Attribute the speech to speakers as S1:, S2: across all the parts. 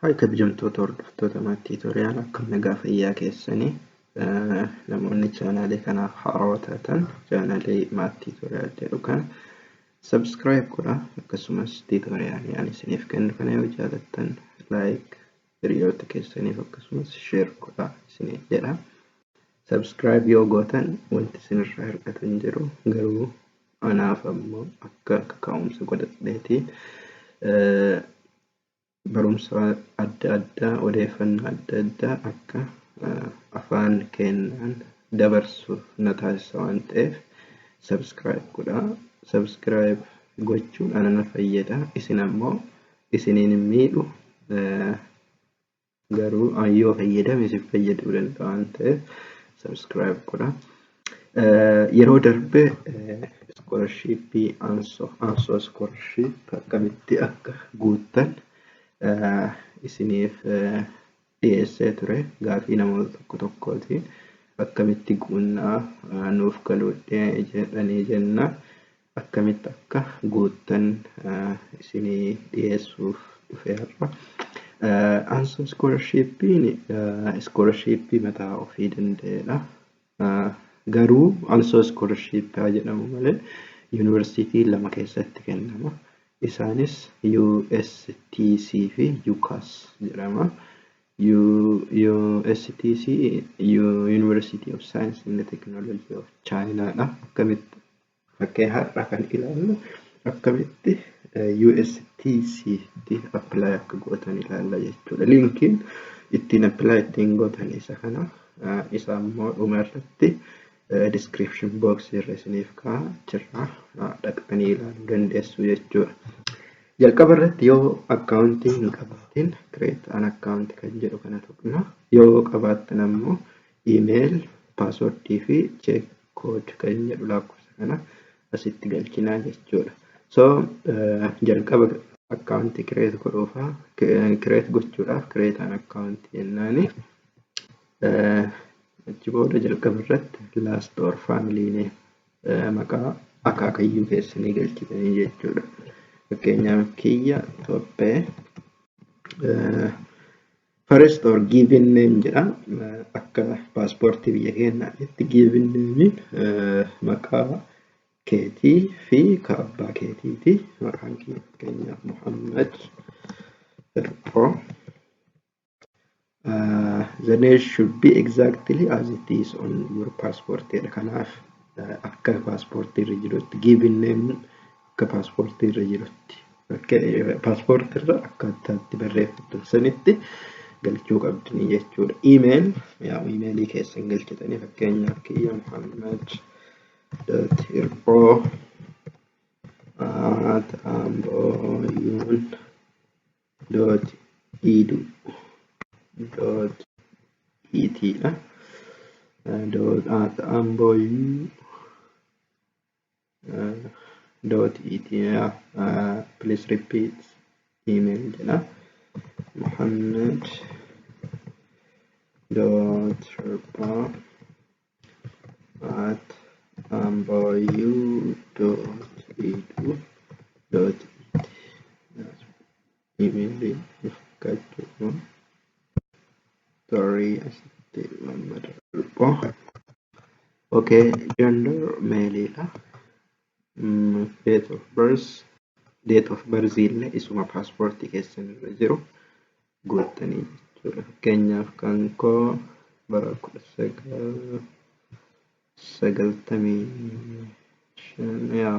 S1: Haay kabajamtoota hordoftoota Maat Tiitoriyaal akkam nagaa fayyaa keessanii namoonni chaanaalee kanaaf haarawaa taatan chaanaalee Maat Tiitoriyaal jedhu kana sabskiraayib godha akkasumas tiitoriyaalii ani isiniif kennu kana yoo jaalattan laayik hiriyoota keessaniif akkasumas sheer godha isiniin jedha sabskiraayib yoo gootan wanti isinirraa hir'atu hin jiru garuu Anaaf ammoo akka kaka'umsa godhadheeti. Barumsa adda addaa, odeeffannoo adda addaa akka afaan keennaan dabarsu na taasisa waan ta'eef subscribe godhaa. Subscribe gochuun ana na fayyada. Isin ammoo isiniin hin miidhu. garuu an yoo fayyadame isin fayyaduu danda'a waan ta'eef subscribe godha. Yeroo darbe iskoolashiippii ansoo iskoolashiip akkamitti akka guuttan isiniif dhiyeessee ture gaafii namoota tokko tokkooti akkamitti guunnaa nuuf galuu jedhanii jenna. akkamitti akka guuttan isinii dhiyeessuuf dhufe har'a. Anso iskoolarshiippiin iskoolarshiippii mataa ofii danda'edha. Garuu anso iskoolarshiippii haa jedhamu malee yuunivarsiitii lama keessatti kennama. Isaanis USTC fi UCAS jedhama. USTC University of Science and Technology of China dha. Akkamitti Fakkee har'a kan ilaallu akkamitti USTC tti apply akka gootan ilaalla jechuudha. Linkiin ittiin apply ittiin gootan isa kana isa immoo dhuma irratti description box irra isiniif ka'a achirraa dhaqxanii ilaaluu dandeessu jechuudha. Jalqaba irratti yoo akkaawuntii hin qabaatin create an account kan jedhu kana tuqna. Yoo qabaattan ammoo email, password fi check code kan inni jedhu lakkoofsa kana asitti galchinaa jechuudha. So jalqaba akkaawuntii kireet godhuufa kireet gochuudhaaf kireetaan akkaawuntii jennaani achi booda jalqaba irratti laast or faamiliine maqaa akaakayyuu keessanii galchitanii jechuudha. Fakkeenyaaf kiyya tophee First or given name jedha. Akka paaspoortii biyya keenyaa itti given name maqaa keetii fi ka abbaa keetiiti. Maqaan kee fakkeenyaaf Muhammad Hirphoo. Uh, the name should be exactly as it is on your passport jedha. Kanaaf uh, akka paaspoortii irra jirutti given name akka paaspoortii irra jirutti paaspoortii irra akkaataa itti barreeffattan sanitti galchuu qabdanii jechuudha. Iimeel yaa iimeelii keessan galchitanii fakkeenyaaf kiyya Muhammad dot irqoo at ambooyuun dot idu dot itiidha. dot at ambooyuu dot ethiopia uh, please repeat email jedha muhammad dot rabba at ambayu dot edu dot Imeelii fakkaachuu qabuun tarii asitti mammada dhipho. Ok, gender meeliidha. Date of birth, date of birth illee isuma paaspoortii keessan irra jiru guuttanii jechuudha. Fakkeenyaaf kan koo bara kudha sagal sagaltamii shan yaa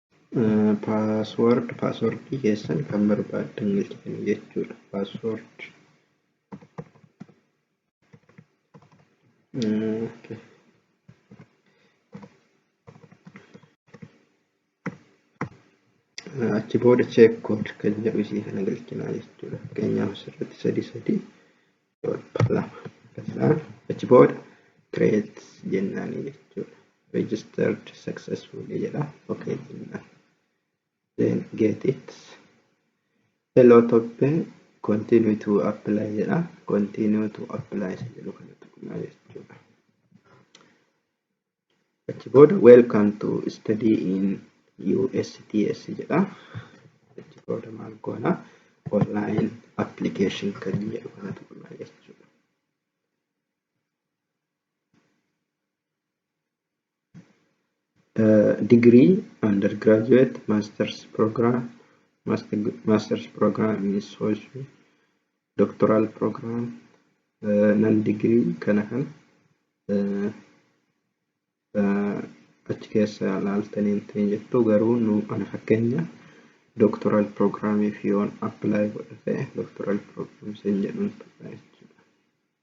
S1: Password password keessan kan barbaaddan galchitanii jechuudha. Password okay. achi booda check code kan jedhu isii kana galchinaa jechuudha. Fakkeenyaaf asirratti sadii sadii lama kanarraa achi booda create jennaanii jechuudha. Registered successfully jedha. Okay jennaan. Then get it. Hello toppe continue to apply jedha. Continue to apply isa jedhu kana tuqnaa jechuudha. Achi booda welcome to study in USTS jedha. Achi booda maal goona online application kan jedhu kana tuqna jechuudha. Uh, degree undergraduate masters program master, masters program in social doctoral program nan degree kana kan achi keessa laaltanii hin jettu garuu nu ana fakkeenya doctoral program fi yoon apply godha ta'e doctoral program sin jedhun tura jechuudha.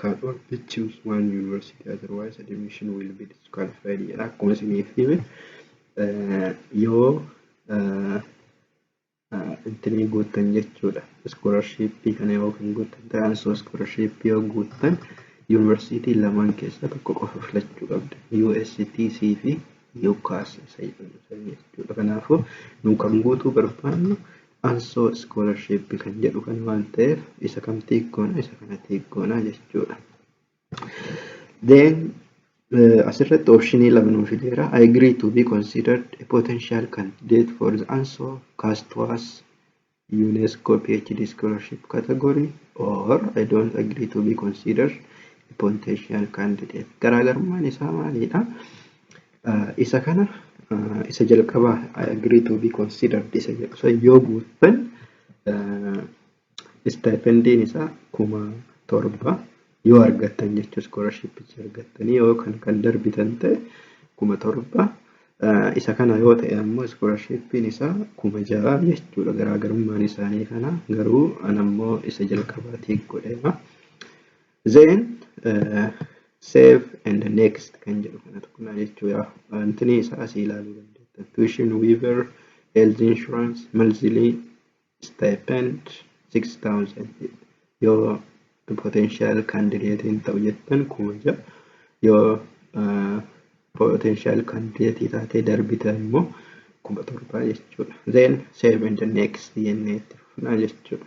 S1: Can all be choose one university otherwise admission will be disqualified jedha akkuma isiniif hime yoo intinii guuttan jechuudha iskoolarshipii kana yoo kan guuttan ta'an soo iskoolarshipii yoo guuttan yuunivarsiitii lamaan keessaa tokko qofa filachuu qabda USTC fi UCAS isa jedhamu jechuudha kanaafuu nu kan guutuu barbaannu Anso scholarship kan jedhu kana waan ta'eef isa kam tick goona isa kana tick goona jechuudha. Then uh, asirratti optionii lama nuu fideera. I agree to be considered a potential candidate for the ANSO Castwas UNESCO PhD scholarship category or I don't agree to be considered a potential candidate. Garaagarummaan isaa maalidha? Isa kana isa jalqabaa I agree to be considered isa jedhu san yoo guuttan stipendin isaa kuma torba yoo argattan jechuu iskoolashippicha argattanii yoo kan kan darbitan ta'e kuma torba isa kana yoo ta'e ammoo iskoolashippiin isaa kuma ja'a jechuudha garaagarummaan isaanii kana garuu an ammoo isa jalqabaa tiik godheera. Then uh, save and next kan jedhu kana tuqnaa jechuudha. Wantini isa asii ilaaluu dandeettan. Tuition waiver, health insurance, monthly stipend 6000 yoo potential candidate hin ta'u jettan kuma ja'a yoo uh, potential candidate taatee darbita immoo kuma torbaa jechuudha. Then save and next jennee itti fufnaa jechuudha.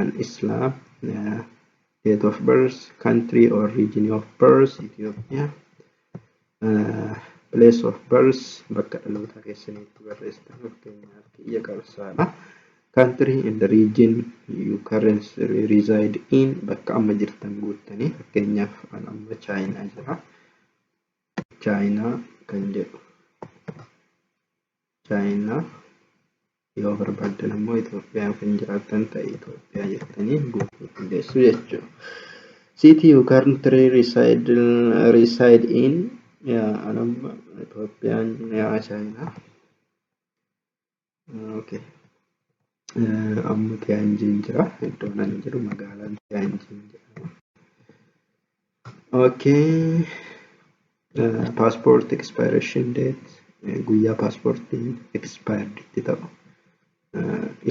S1: An Islam, uh, date of birth, country or region of birth, Ethiopia. Uh, place of birth, bakka dhaloota keessaniitti barreessitan fakkeenyaaf kiyya qabsaadha. Country and region you currently reside in bakka amma jirtan guuttanii fakkeenyaaf an amma Chaayinaa jira. Chaayinaa kan jedhu Chaayinaa yoo barbaaddan ammoo Itoophiyaa yoo kan jiraattan ta'e Itoophiyaa jettanii guutuu dandeessu jechuudha. City you currently reside, reside in yaa anamma Itoophiyaan yaa Chaayinaa. Okay. Amma Tiyaanjiin jira. Iddoon ani jiru magaalaan Tiyaanjiin jedhama. Okay. Paaspoortii expiration date guyyaa paaspoortiin expired itti ta'u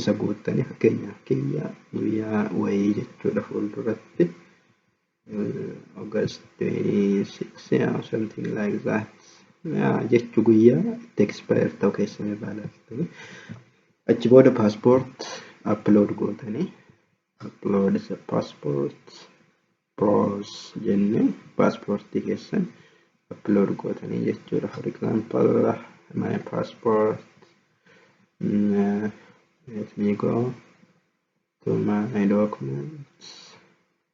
S1: isa guuttanii fakkeenyaaf kiyya guyyaa wayii jechuudha fuulduratti uh, August 26 yeah, something like that yeah, jechu guyyaa itti expire ta'u keessan irraa laaltanii achi booda passport upload gootanii upload the passport pros jenne passport keessan upload gootanii jechuudha for example my passport mm, let me go to my documents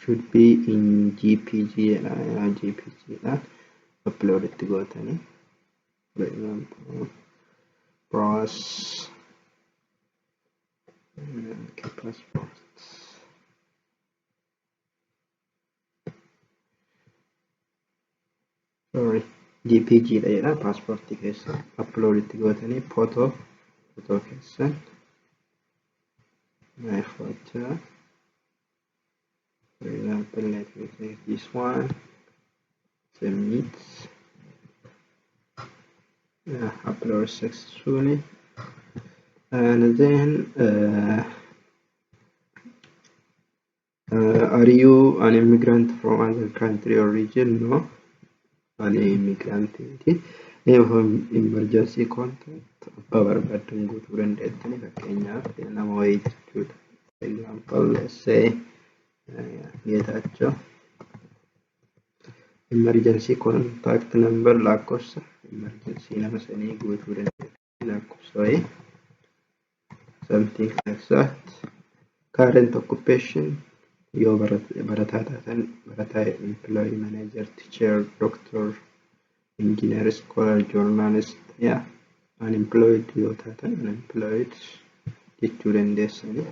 S1: should be in jpg jedha yaa jpg dhaan upload itti gootanii for example browse uh, passport sorry jpg dha jedha paaspoortii keessa upload itti gootanii footoo footoo keessan my photo for example let me take this one submit uh, upload successfully and then uh, Are you an immigrant from other country or region? No. Ani immigrant miti. Name of emergency contact abbaa barbaaddan guutuu dandeettani fakkeenyaaf nama wayii jechuudha. For example, let's say Geetaachoo emergency contact number lakkoofsa emergency nama sanii guutuu dandeettani. lakkoofsa wayii something like that current occupation yoo barataa taatan barataa employee manager teacher doctor engineer scholar journalist yaa unemployed yoo taatan unemployed jechuu dandeessanii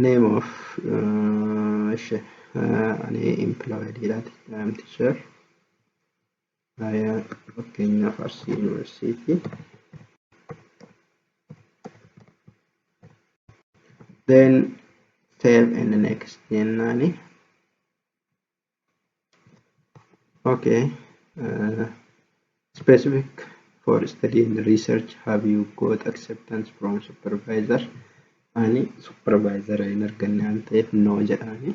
S1: name of uh, ani employed dha teacher Hariyaa fakkeenyaaf Arsii Yuunivarsiitii. Then save and next jennaani. Okay. Uh, specific for study and research have you got acceptance from supervisor? Ani supervisor hin arganne waan ta'eef no jedhaani.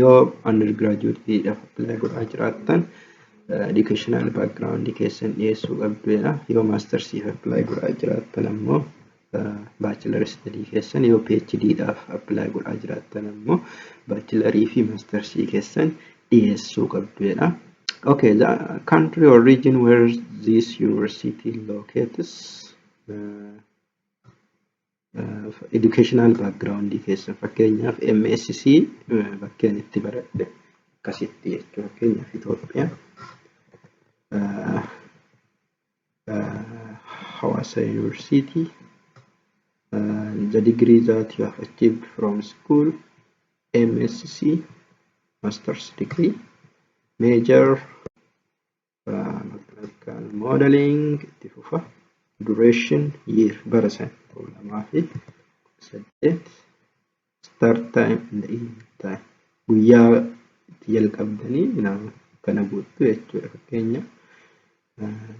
S1: Yoo undergraduate dhaaf apply godhaa jiraattan educational background keessan dhiyeessuu qabdu jedha. Yoo masters if apply godhaa jiraattan ammoo bachelor study keessan yoo PhD dhaaf apply godhaa jiraattan ammoo bachelor fi masters keessan dhiyeessuu qabdu jedha. Okay, the country or region where this university locates uh, Educational background keessan fakkeenyaaf MSC bakkeen itti baradhe akkasitti jechuudha. Fakkeenyaaf Itoophiyaa Hawaasa Yuunivarsiitii the degree that you have achieved from school MSC master's degree major mechanical modeling itti fufa duration year bara san kuma lamaa fi saddeet start time and end time guyyaa itti jalqabdanii nama kana guuttu jechuudha fakkeenya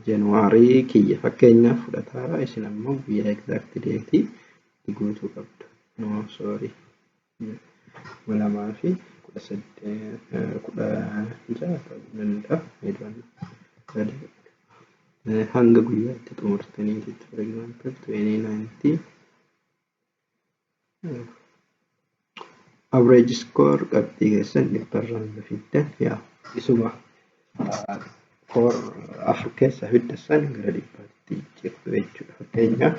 S1: januwaarii kiyya fakkeenya fudhataa isin ammoo guyyaa exact deetii itti guutuu qabdu no sorry kuma lamaa fi kudha saddeet kudha ja'a ta'uu danda'a eedoon sadii hanga guyyaa itti xumurtanii jechuudha for example twenty ninety average score qabxii keessan dhibbarraan yoo fiddan yaa isuma for afur keessaa fidda san gara dhibbaatti jijjiirtu jechuudha fakkeenyaaf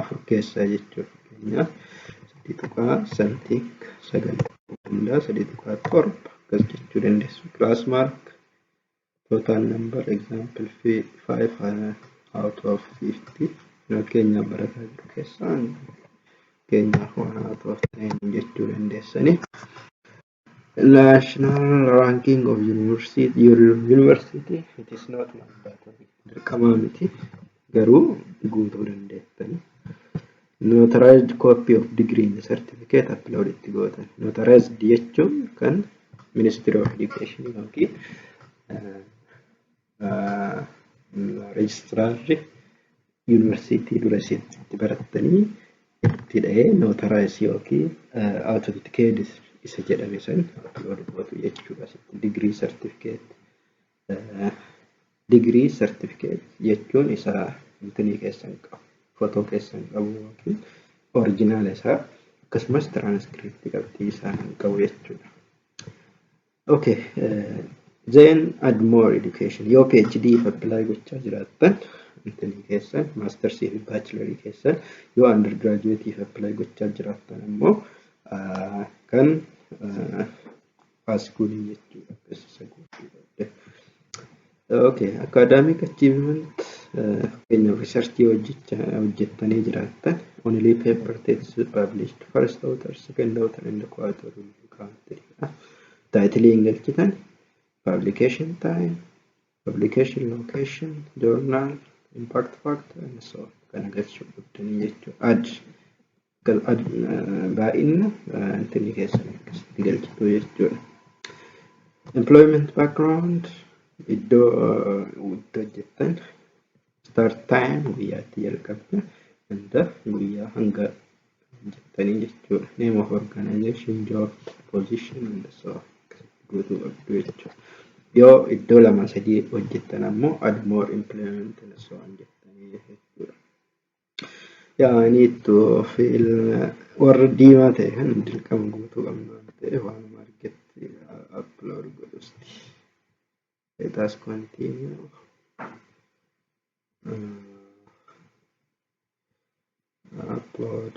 S1: afur keessaa jechuudha. Fakkeenyaaf sadii tuqaa saddeet sagal hundaa sadii tuqaa torba akkas jechuu dandeessu. Class mark total number example fi five out of fifty fakkeenyaaf barataa jiru keessaa fakkeenyaaf one out of ten jechuu dandeessanii. National ranking of university, your university, it is not mandatory. Dirqamaa miti. Garuu guutuu dandeettanii. Notarized copy of degree and certificate upload itti gootan. Notarized jechuun kan Ministry of Education yookiin Reejistiraarri yuunivarsiitii dura isin itti barattanii itti dhahee nootaraayis yookiin awutentikeenis isa jedhame san aplood gootu jechuudha. Asitti digirii sartifikeet digirii sartifikeet jechuun isa intinii keessan qabu footoo keessan qabu yookiin orijinaala isaa akkasumas tiraanskriptii qabxii isaa kan qabu jechuudha. Okay. Then add more education. Yoo PhD apply gochaa jiraattan intini keessan maastarsii fi baachilarii keessan yoo undergraduate apply gochaa jiraattan ammoo ah, kan ah, pass goodii jechuudha. Beeksisa goodii. Ok, academic achievement fakkeenyaaf researchii hojjettanii jiraattan only paper text published first author second author and co-author will be counted taayitilii hin galchitan publication time publication location journal impact factor and so on kana galchuu qabdanii jechuudha. baay'inna intinni keessan akkasitti galchitu jechuudha. Employment background iddoo itti hojjettan start time guyyaa itti jalqabdu hanga guyyaa hanga hojjettanii jechuudha. Name of organization, job, position and so on akkasitti guutuu qabdu jechuudha. Yoo iddoo lama sadii hojjettan ammoo add more employment and so on jettanii jechuudha. Yeah, I need to fill warra diimaa ta'e kan dirqama guutuu qabna waan ta'eef waan marketti upload godhusti. Let us continue. Uh, upload.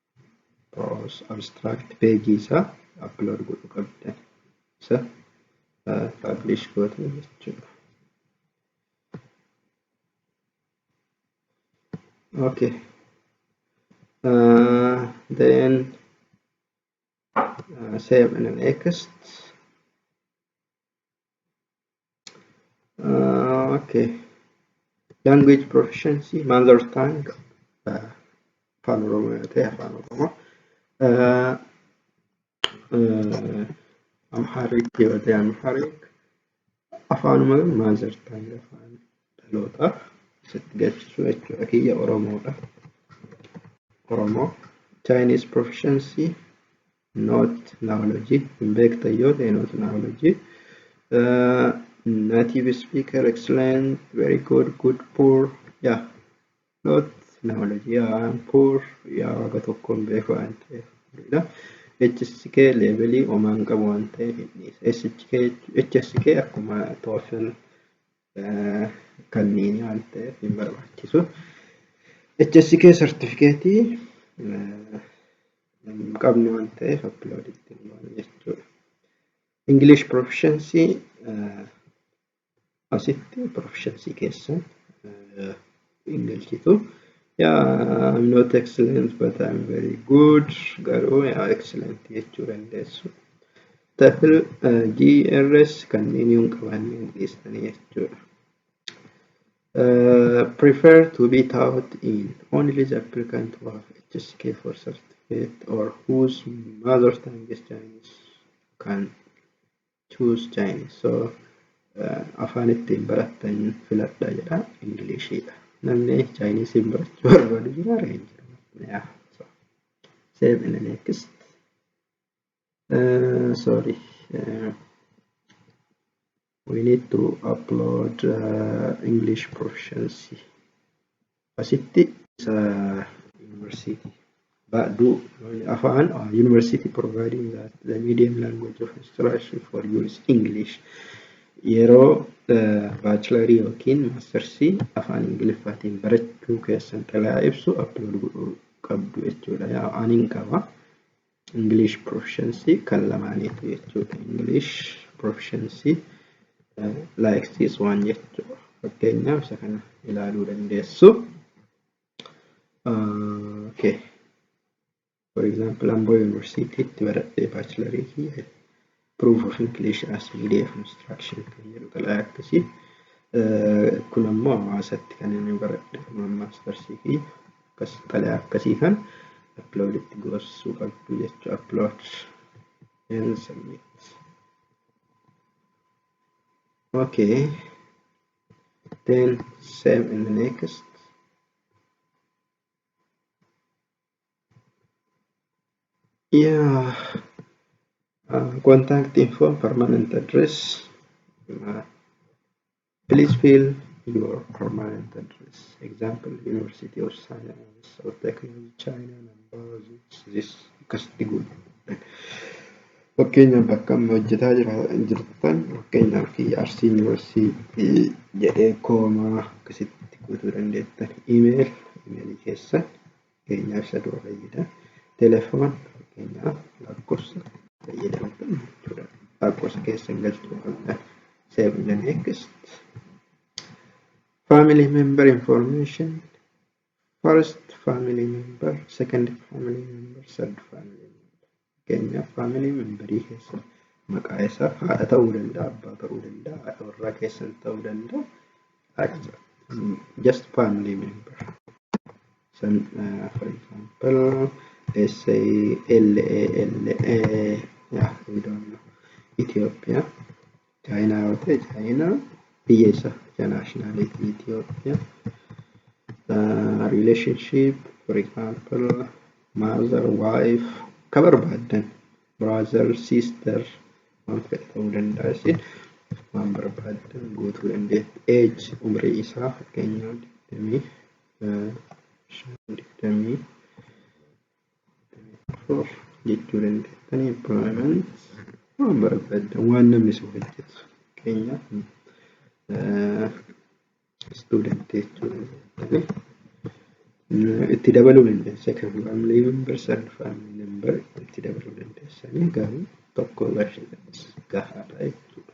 S1: abstract page isaa upload godhu qabdan isa publish gootan jechuudha. Okay. Uh, then uh, save and next. Uh, okay. Language proficiency, mother tongue, uh, afaan Oromoo yoo ta'e afaan Oromoo. Uh, uh, Amharic yoo ta'e Amharic. Afaanuma mother tongue afaan dhaloota sitti galchisu jechuudha. Kiyya Oromoodha. Oromoo. Chinese proficiency, not naology hin beektan yoo ta'e not naology uh, native speaker excellent very good good poor yeah not naology yeah poor yeah waga tokko hin beeku waan ta'eef dha HSK leevelii omaan qabu waan ta'eef hin dhiisa HSK HSK akkuma toofin kanneen waan ta'eef hin barbaachisu. HSK sartifikeetii hin qabnu waan ta'eef upload itti hin goonu jechuudha. English proficiency asitti proficiency keessan hin galchitu. Yeah, I'm not excellent but I'm very good. Garuu yeah, excellent jechuu dandeessu. Tafil uh, GRS kanneen hin qabaanne hin dhiistanii jechuudha. Uh, prefer to be taught in only the applicant who have HSK for certificate or whose mother tongue is Chinese can choose Chinese so uh, afaan ittiin barattan filadha jedha ingiliishiidha namni chaayiniisiin barachuu barbaadu jira ree hin jiru yeah. so, save in the next uh, sorry uh, we need to upload uh, English proficiency Asitti isa university baadhu afaan university providing that the medium language of instruction for you is English. Yeroo baachilarii yookiin maastarsii afaan Ingiliffaatiin barachuu keessan xalayaa ibsu upload godhuu qabdu jechuudha. Yaa anin qaba. English proficiency kan lamaaniiti jechuudha. English proficiency uh, like this one jechuudha. Fakkeenyaaf isa kana ilaaluu dandeessu. Uh, okay. For example, Ambo University itti baradhee baachilarii kiyya proof of inclusion as media of instruction kan jedhu xalayaa akkasii kun ammoo hawaasatti kan inni baradhe maastarsii fi akkas xalayaa akkasii kan upload itti gorsuu qabdu jechuu upload and submit okay then save in the next Yeah. Uh, contact info and permanent address. Uh, please fill your permanent address. Example, University of Science or Technology China number this, this akkasitti godhu. Fakkeenyaaf bakka amma hojjetaa jira jirtan fakkeenyaaf Arsii Yuunivarsiitii jedhee koomaa akkasitti guutuu dandeettan. Imeeyil imeeyilii keessan Fakkeenyaaf isa dura fayyada. Telefoon fakkeenyaaf lakkoofsa fayyadamtu jechuudha. Lakkoofsa keessa hin galchu qabda. Save the next. Family member information. First family member, second family member, third family member. Fakkeenyaaf family memberii keessa maqaa isaa haadha ta'uu danda'a, abbaa ta'uu danda'a, haadha warraa keessan ta'uu danda'a. Akka- Just family member. San uh, for example let's say L A L A yeah, we don't know. Ethiopia Chaayinaa yoo ta'e Chaayinaa biyya isa biyya naashinaalitii Itoophiyaa relationship for example mother wife ka barbaaddan brother sister waan fedhe ta'uu danda'a isin waan barbaaddan guutuu dandeetti age umrii isaa fakkeenyaaf digdamii digdamii Of jechuu dandeettanii baanan waan barbaaddan waan namni isin hojjetu fakkeenyaaf istuudantii jechuu dandeettanii itti dabaluu dandeessa kan faamilii member san faamilii member itti dabaluu dandeessanii garuu tokko barreedhanis gahaadha jechuudha.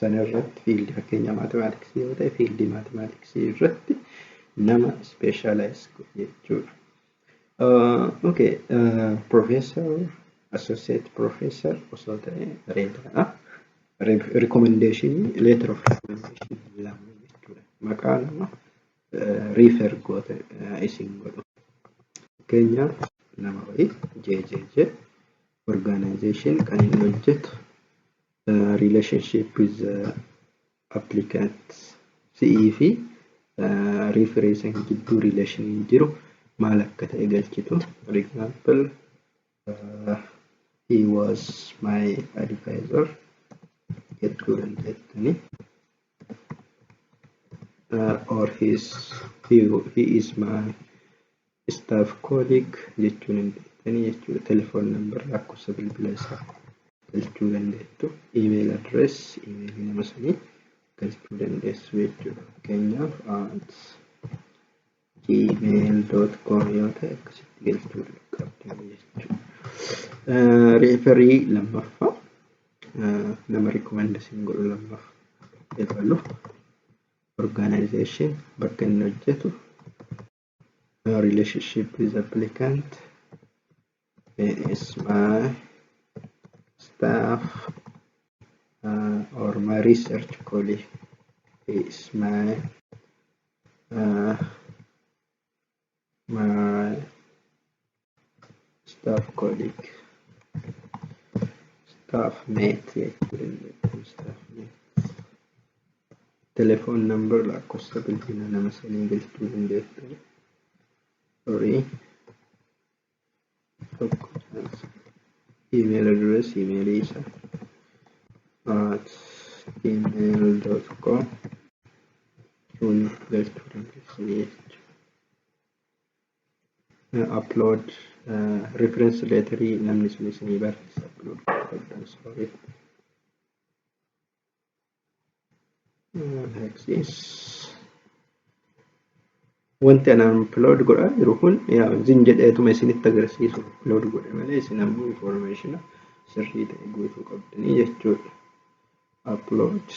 S1: Sana irratti fiildii fakkeenyaa maatimaatiksii yoo ta'e fiildii maatimaatiksii irratti nama ispeeshaalaayiz godhe jechuudha. Okay, Professor, Associate Professor osoo ta'e bareedaadha. Recommendation, letter of recommendation lama jechuudha. Maqaa nama refer goote isin godhu. Fakkeenyaaf nama wayii JJJ organization kan inni hojjetu Uh, relationship with the applicant si'ii fi uh, refereesan gidduu relation hin jiru maal akka ta'e galchitu for example uh, he was my advisor jechuu dandeettanii uh, or his he, he is my staff colleague jechuun hin beektanii jechuudha telefoon nambar lakkoofsa bilbila isaa galchuu dandeettu email address email nama sanii galchuu dandeessu jechuudha fakkeenyaaf at gmail.com yoo ta'e akkasitti galchuu qabda jechuudha. Reeferii lammaffaa nama rikoomenda siin godhu lammaffaa eegalu orgaanaayizeshin bakka inni hojjetu relationship with applicant Where is my staff uh, or my research colleague? Where is my uh, my staff colleague? Staff mate jechuun staff mate. Telephone number lakkoofsa bilbila nama sanii galchuu dandeessu. Sorry. tokko email address email isa at gmail.com tun galchuu dandeessanii jechuudha. Upload reference letterii namni sun isinii barreessa upload godhuu qabdan sorry. Wanti anaan upload godhaa jiru kun yaa zin jedheetuma isinitti agarsiisu upload godhe malee isin ammoo information sirrii ta'e guutuu qabdanii jechuudha. Upload.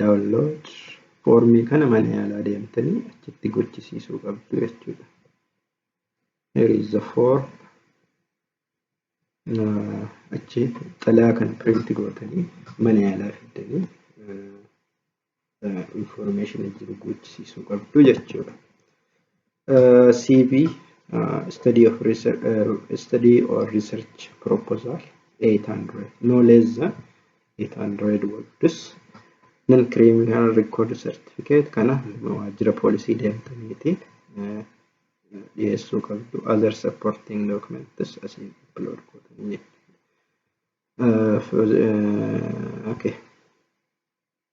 S1: Download foormii kana mana yaalaa deemtanii achitti gochisiisuu qabdu jechuudha. Here is the form. Achi xalayaa kana print gootanii mana yaalaa fiddanii information jiru gochisiisuu qabdu jechuudha. CV study of research, uh, study or research proposal 800 no less than 800 words non criminal record certificate kana waajjira poolisii deemtaniiti dhiyeessuu qabdu other supporting documents asiin upload godhanii okay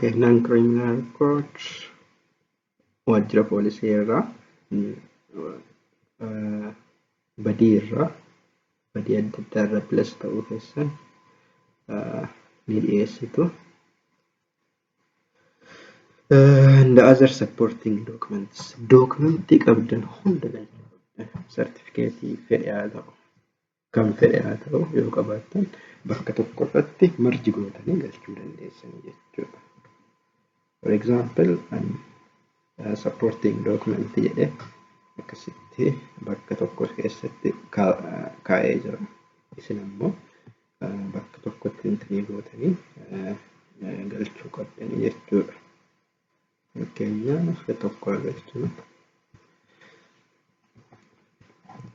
S1: Kennaan Kiriminal Koot waajjira poolisii irraa badii irraa badii adda addaa irraa bilas ta'uu keessan ni dhiyeessitu. And the other supporting documents. Dookumentii qabdan hunda galchuudha. Sartifikeetii fedhe haa ta'u. kam fedhe haa ta'u yoo qabaattan bakka tokko irratti marji gootanii galchuu dandeessanii jechuudha. For example, an uh, supporting document jedhe akkasitti bakka tokko keessatti kaa'ee jira. Isin ammoo bakka tokkotti intinii gootanii galchuu qabdanii jechuudha. Fakkeenyaa akka tokko agarsiisu.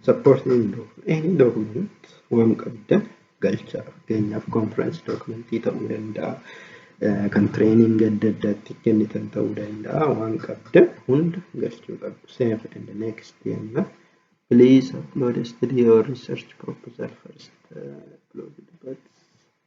S1: Support any document. Any document waan qabdan galchaa. Fakkeenyaaf conference document ta'uu danda'a. Kan training adda addaatti kennitan ta'uu danda'a. Waan qabdan hunda galchuu qabdu. Save and next jenna. Please upload a study or research proposal first. Uh, upload but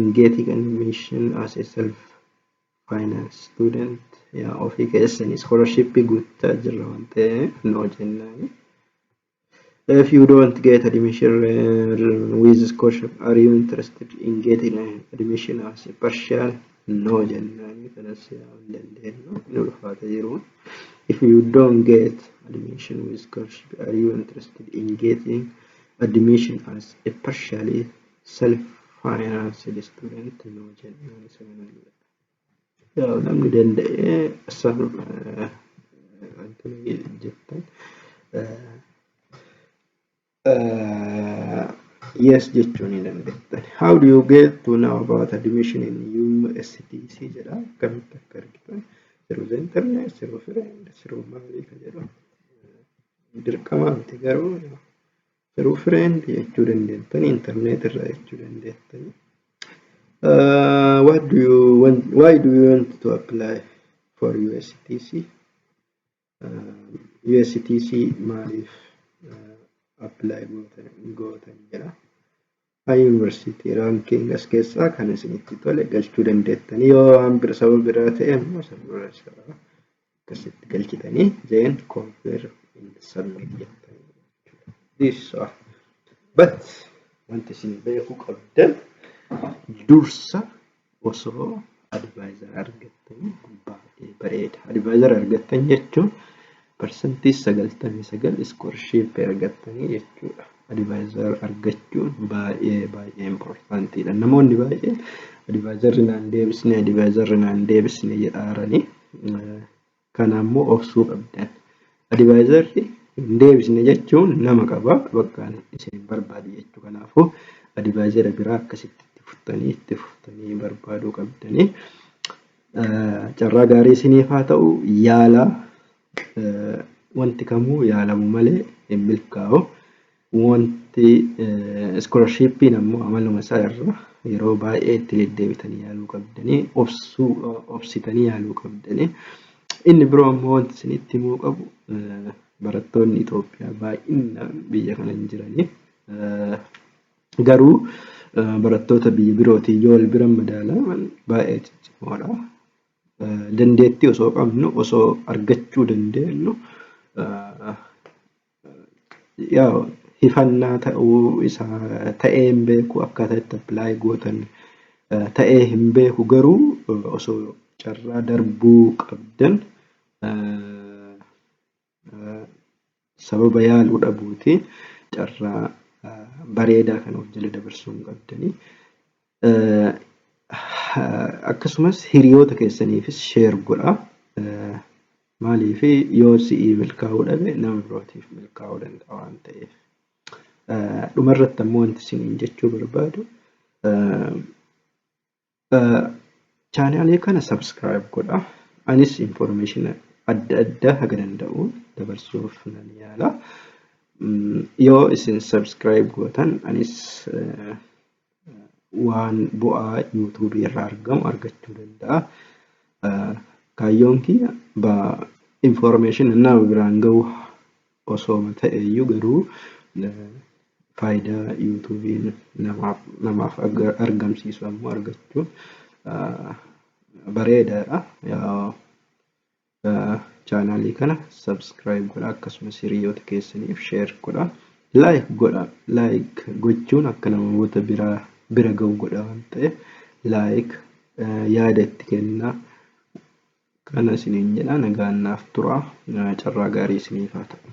S1: Ingeetii kan mission as a self finance student yaa ofii keessanii scholarship guuttaa jirra waan ta'e noo jennaani. If you don't get admission uh, with scholarship, are you interested in getting uh, admission as a partial? No jennaani kanas yaa hin dandeenyu hin ulfaata jiru. If you don't get admission with scholarship, are you interested in getting admission as a partially? self financed student nuu jennaan isa kana yaa'u namni danda'ee san wanti jettan yes jechuu ni dandeettan. How do you get to know about admission in USDC jedha akkamitti akka argitan through the internet, through friend, through maali ka jedhamu dirqamaa miti garuu Garuu friend jechuu dandeettani internet irraa jechuu dandeettani. Uh, what do you want, why do you want to apply for USTC? Uh, USTC maaliif uh, apply gootan, gootan jedha. Kan Yuunivarsiitii Raankiing as keessaa kan isinitti tole galchuu dandeettanii yoo waan bira sababa biraa ta'e immoo sirna isaa akkasitti galchitanii then confirm and submit jettanii jechuudha. This are but wanti isin beekuu qabdan dursa osoo advisor argattanii baay'ee bareeda. Advisor argattan jechuun parsantii 99 iskoorship argattanii jechuudha. Advisor argachuun baay'ee baay'ee importantiidha. Namoonni baay'een advisor naan deebisne advisor naan deebisne jedhaaranii Kana ammoo obsuu qabdan. Adivaayizarri hin deebisne jechuun nama qaba bakka isin hin barbaadu jechuu kanaafuu adivaayizara biraa akkasitti itti furtanii itti furtanii barbaaduu qabdanii. Carraa gaarii isiniif haa ta'u yaala wanti kamuu yaalamu malee hin milkaa'u. Wanti iskoolarshippiin ammoo amaluma isaa irra yeroo baay'ee itti deddeebitanii yaaluu qabdanii obsuu obsitanii yaaluu qabdanii. Inni biroo ammoo wanti isinitti himuu qabu barattoonni Itoophiyaa baay'inaan biyya kana hin jiranii. Garuu barattoota biyya birootiin yoo wal bira madaalaman baay'ee ciccimoodha. Dandeettii osoo qabnu osoo argachuu dandeenyu Yaw hifannaa ta'uu isaa ta'ee hin beeku akkaataa itti apply gootan eh, ta'ee hin beeku garuu eh, osoo carraa darbuu qabdan eh, eh, sababa yaaluu dhabuuti carraa eh, bareedaa kana of jala dabarsuu hin qabdanii. Akkasumas hiriyoota keessaniifis share godha. Maaliif yoo si'ii milkaa'uu dhabe nama birootiif milkaa'uu danda'a waan ta'eef. Dhumarratti ammoo wanti isiniin jechuu barbaadu chaanaalee kana subscribe godha. Anis information adda addaa haga danda'u dabarsuuf nan yaala. Yoo isin subscribe gootan anis waan bu'aa yuutuubii irraa argamu argachuu danda'a. Kaayyoon kiyya information nama biraan ga'u osoo ta'e iyyuu garuu faayidaa yuutuubiin namaaf namaaf argamsiisu ammoo argachuun bareedaadha. Chaanaalii kana subscribe godha akkasumas hiriyoota keessaniif share godha. Like godha. Like gochuun akka namoota biraa bira ga'u godha waan ta'eef like yaada itti kennaa. Kana isiniin jedha nagaan naaf tura. Carraa gaarii isiniif haa ta'u.